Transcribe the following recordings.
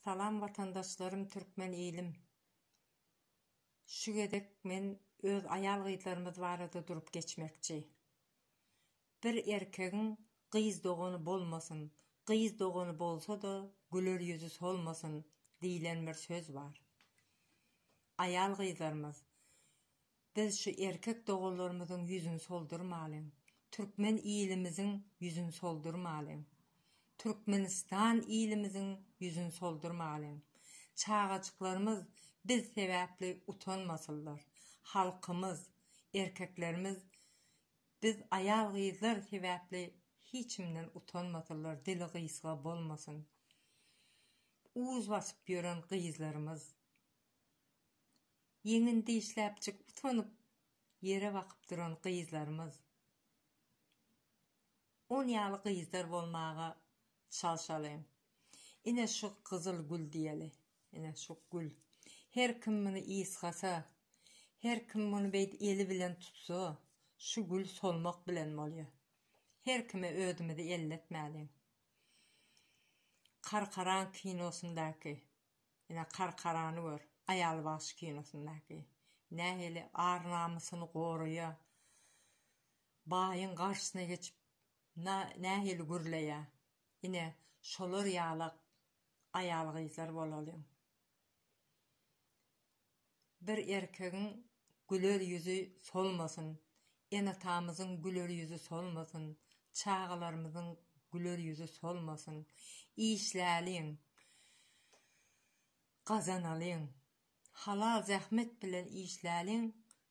Salam watandaşlarym türkmen ilim. Şu gezek men öz aýal gyzlarymyz barada durup geçmekçi. Bir erkegiň gyz dogany bolmasyn, gyz dogany bolsa-da güler ýüzi solmasyn diýlen bir söz bar. Aýal gyzlarymyz Biz şu erkek doganlarymyzyň ýüzüni soldurmalyň, türkmen ilimiziň ýüzüni soldurmalyň, Türkmenistan ilimiziň ýüzüni soldurmalyň. Çagajyklarymyz biz sebäpli utanmasynlar. Halkymyz, erkeklerimiz biz aýal-gyzlar sebäpli hiçimden utanmasynlar, dili gysga bolmasyn. Uz basyp ýören gyzlarymyz. Ýeňin dişläpjik utanyp ýere bakyp duran gyzlarymyz. On ýaly gyzdar bolmaga çalşalyň. Ine şu gyzyl gül diýeli. Ine şu gül. Her kim muny ysgasa, her kim muny beýt eli bilen tutsa, şu gül solmak bilen bolýar. Her kime özümizi elletmäliň. Karkaran kinosyndaky Ine Karkarany gör, Aýal bagşy kinosyndaky. Nähili ar-namysyny goraýa. Baýyň garşysyna geçip nähili gürleýä. Ine şolar ýalak aýal-gyzlar bolalyň. Bir erkegiň güler ýüzi solmasyn, ene-atamyzyň güler ýüzi solmasyn, çagalarymyzyň güler ýüzi solmasyn. Işläliň, gazanalyň. Halal zähmet bilen işläliň,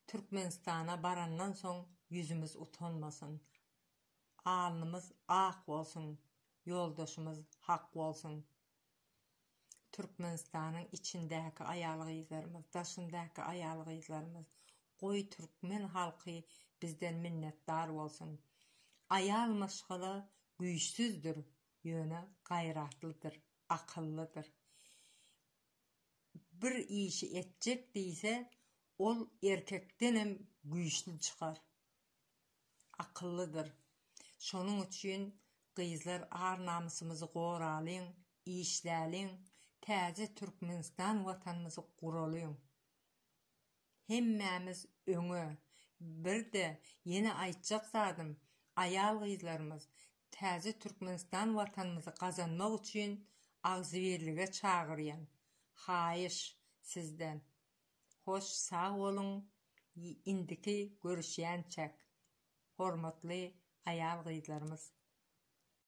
Türkmenistana barandan soň ýüzümiz utanmasyn. Alnymyz ak bolsun, ýoldaşymyz hak bolsun. Türkmenistanyň içindäki aýal-gyzlarymyz, daşyndaky aýal-gyzlarymyz, goý türkmen halky bizden minnetdar bolsun. Aýal maşgala güýçsüzdir, ýöne gaýratlydyr, akyllydyr. Bir işi etjek diýse, ol erkekdenem güýçli çykar. akyllydyr. Şonuň üçin gyzlar ar-namysymyzy goralyň, işläliň, täze Türkmenistan watanymyzy guralyň. Hemmämiz öňe! Birde ýene aýtjak zadym, aýal-gyzlarymyz täze Türkmenistan watanymyzy gazanmak üçin agzybirlige çagyrýan. Haýyş, sizden. Hoş sag boluň indiki görüşýänçäk hormatly aýal gyzlarymyz.